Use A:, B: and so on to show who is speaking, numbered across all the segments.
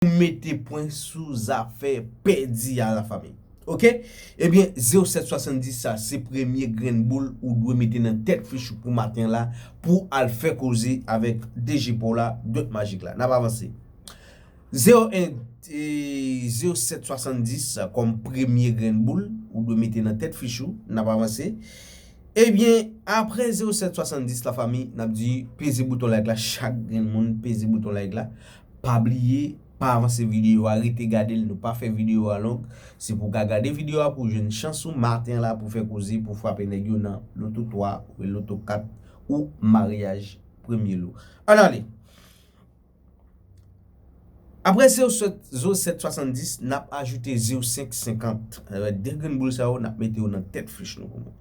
A: pou mete pwen sou zafè pèdi a la fami ok ebyen 0770 sa se premye grenn boul ou dwe mete nan tèt fichou pou maten la pou al fè koze avèk DG paw la dòt majik la nap avanse 01 0770 kòm premye grenn boul ou dwe mete nan tèt fichou nap avanse ebyen aprè 0770 la fami nap di peze bouton like la chak grenn moun peze bouton like la. Pa bliye pa avanse video a rete gadel nou pa fè video a long se pou ka gade video a pou jwenn chans ou maten la pou fè koze pou frape nèg yo nan loto 3 oubyen loto 4 ou maryaj premye lou an ale Aprè zew sot zo 7 70 nap ajoute zew 5 50 avek 2 grenn boul sa yo nap mete yo nan tèt fich nou.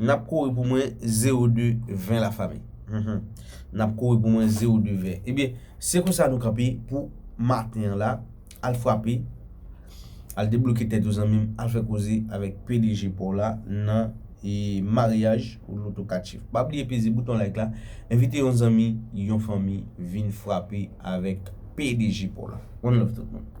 A: Nap kouri pou mwen ze ou de vin la fami humm nap kouri pou mwen ze ou de vin ebyen se konsa nou kanpe pou maten an la al frape al debloke tèt ou zanmim al fè koze avèk pdg paw la nan maryaj ou lotokatif pa bliye peze bouton like la envite yon zanmi yon fanmi vin frape avèk pdg paw la one love tout moun.